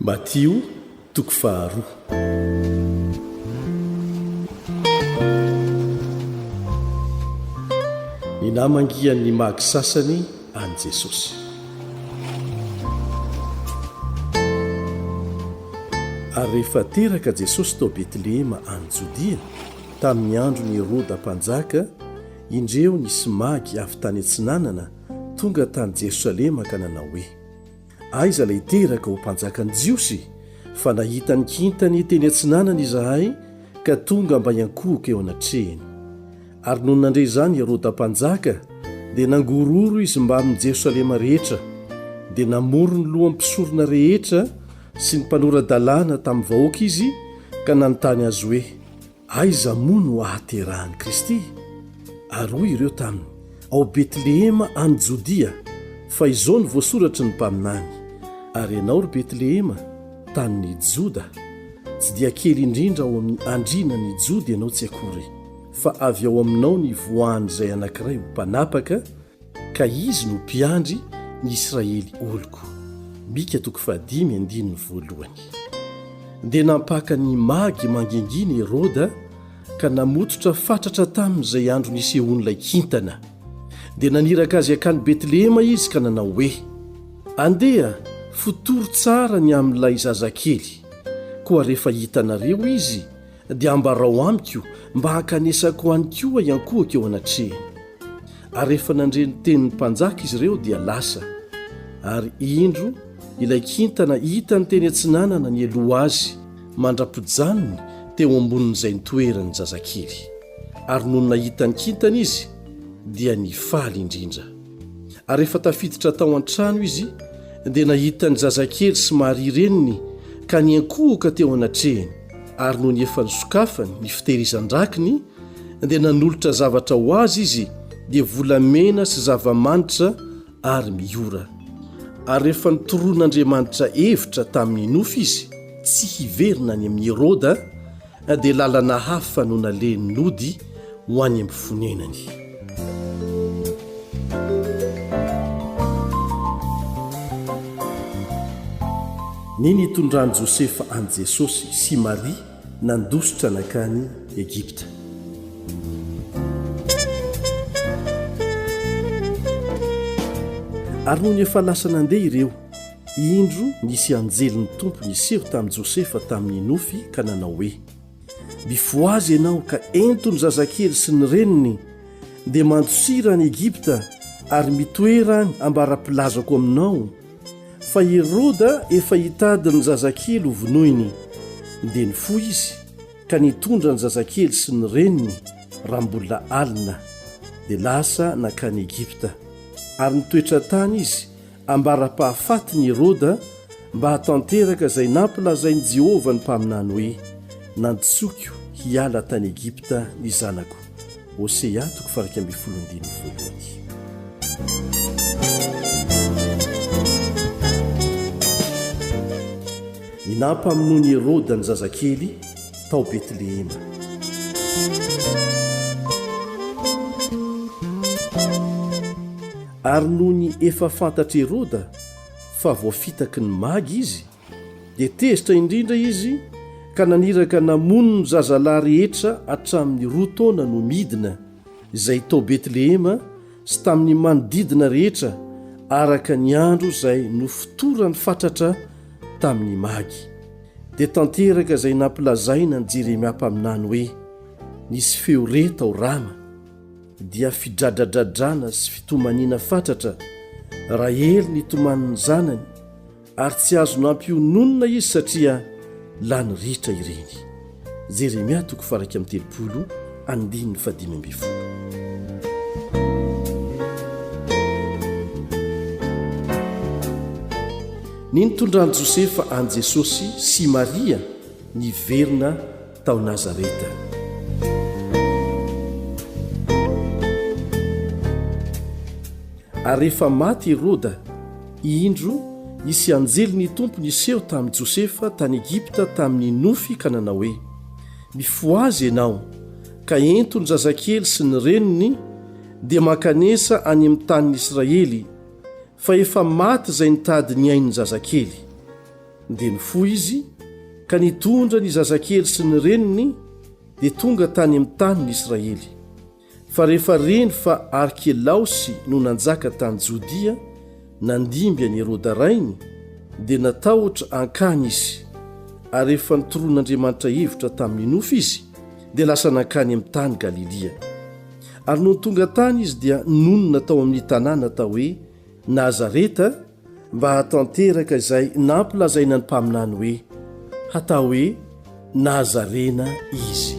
Matio, toko faharoa. Ny namangian' ny magy sasany an' i Jesosy. Ary rehefa teraka Jesosy tao Betlehema any Jodia, tamin' ny andron' i Heroda mpanjaka, indreo nisy magy avy tany atsinanana tonga tany Jerosalema ka nanao hoe, Aiza ilay teraka ho mpanjakan'ny Jiosy? Fa nahita ny kintany teny atsinanana izahay, ka tonga mba hiankohoka eo anatrehany. Ary nony nandre izany i Heroda Mpanjaka, dia nangororo izy mbamin'i Jerosalema rehetra, dia namory ny lohan'ny mpisorona rehetra sy ny mpanora-dalàna tamin'ny vahoaka izy, ka nanontany azy hoe, Aiza moa no ahaterahan'i Kristy? Ary hoy ireo taminy, Ao Betlehema any Jodia, fa izao no voasoratry ny mpaminany, Ary ianao, ry Betlehema, tanin'i Joda, tsy dia kely indrindra ao amin'ny andrianan'ny Joda ianao tsy akory, fa avy ao aminao ny Voan'izay Anankiray ho Mpanapaka, Ka Izy no Mpiandry ny Israely oloko. Mika toko fahadimy andininy voalohany. Dia nampaka ny magy mangingina Heroda ka namototra fatratra taminy izay andro nisehoan'ilay kintana. Dia naniraka azy hankany Betlehema izy ka nanao hoe, Andeha, fotory tsara ny amin'ilay zazakely, koa rehefa hitanareo izy, dia ambarao amiko mba hankanesako ho any koa i ankohoko eo anatrehany. Ary rehefa nandre ny tenin'ny mpanjaka izy ireo dia lasa, ary indro ilay kintana hitany teny atsinanana nialoha azy mandra-pijanony teo ambonin'izay nitoerany ny zazakely. Ary nony nahita ny kintana izy dia nifaly indrindra. Ary rehefa tafiditra tao an-trano izy dia nahita ny zazakely sy Maria reniny ka niankohoka teo anatrehany. Ary nony efa nisokafany ny fitehirizan-drakiny, dia nanolotra zavatra ho azy izy, dia volamena sy zava-manitra ary miora. Ary rehefa nitoron'Andriamanitra hevitra tamin'ny nofy izy tsy hiverina any amin'i Heroda, dia lalana hafa no nalehin'ny nody ho any amin'ny fonenany. Ny nitondran'i Josefa an'i Jesosy sy Maria nandositra nankany Egypta. Ary nony efa lasa nandeha ireo, indro nisy anjelin'ny Tompo niseho tamin'i Josefa tamin'ny nofy ka nanao hoe. Mifohaza ianao ka ento ny zazakely sy ny reniny, dia mandosira any Egypta ary mitoera any ambarapilazako aminao, fa Heroda efa hitady ny zazakely ho vonoiny. Dia nifoha izy ka nitondra ny zazakely sy ny reniny raha mbola alina, dia lasa nankany Egypta, ary nitoetra tany izy ambara-pahafatiny i Heroda mba hahatanteraka izay nampilazain'i Jehovah ny mpaminany hoe, Nantsoiko hiala tany Egypta ny zanako. Hosea toko faha-iraika ambin'ny folo andininy voalohany. Ny nampamonoan'i Heroda ny zazakely tao Betlehema. Ary nony efa fantatr' Heroda fa voafitaky ny magy izy, dia tezitra indrindra izy ka naniraka namono ny zazalahy rehetra hatramin' ny roa taona no midina, izay tao Betlehema sy tamin' ny manodidina rehetra, araka ny andro izay nofotoran' fatratra tamin' ny magy. Dia tanteraka izay nampilazaina ny Jeremia mpaminany hoe, Nisy feo re tao Rama. dia fidradradradrana sy fitomaniana fatratra Rahely nitomanin'ny zanany ary tsy azo nampiononina izy satria lany ritra ireny Jeremia toko faraika amin'ny telopolo andininy fadimy ambifolo Ny nitondran'i Josefa an'i Jesosy sy Maria niverina tao Nazareta. Ary rehefa maty i Roda, indro, hisy anjely ny Tompo niseho tamin'i Josefa tany Egypta tamin'ny nofy ka nanao hoe, Mifohaza ianao, ka ento ny zazakely sy ny reniny, dia mankanesa any amin'ny tanin'Israely, fa efa maty izay nitady ny ain'ny zazakely. Dia nifoha izy ka nitondra ny zazakely sy ny reniny dia tonga tany amin'ny tanin'i Israely. Fa rehefa reny fa Arkelaosy no nanjaka tany Jodia, nandimby an'i Heroda rainy, dia natahotra hankany izy, ary rehefa nitoron'Andriamanitra hevitra tamin'ny nofy izy, dia lasa nankany amin'ny tany Galilia. Ary nony tonga tany izy dia nonina tao amin'ny tanàna atao hoe Nazareta mba hahatanteraka izay nampilazaina ny mpaminany hoe hatao hoe Nazarena izy.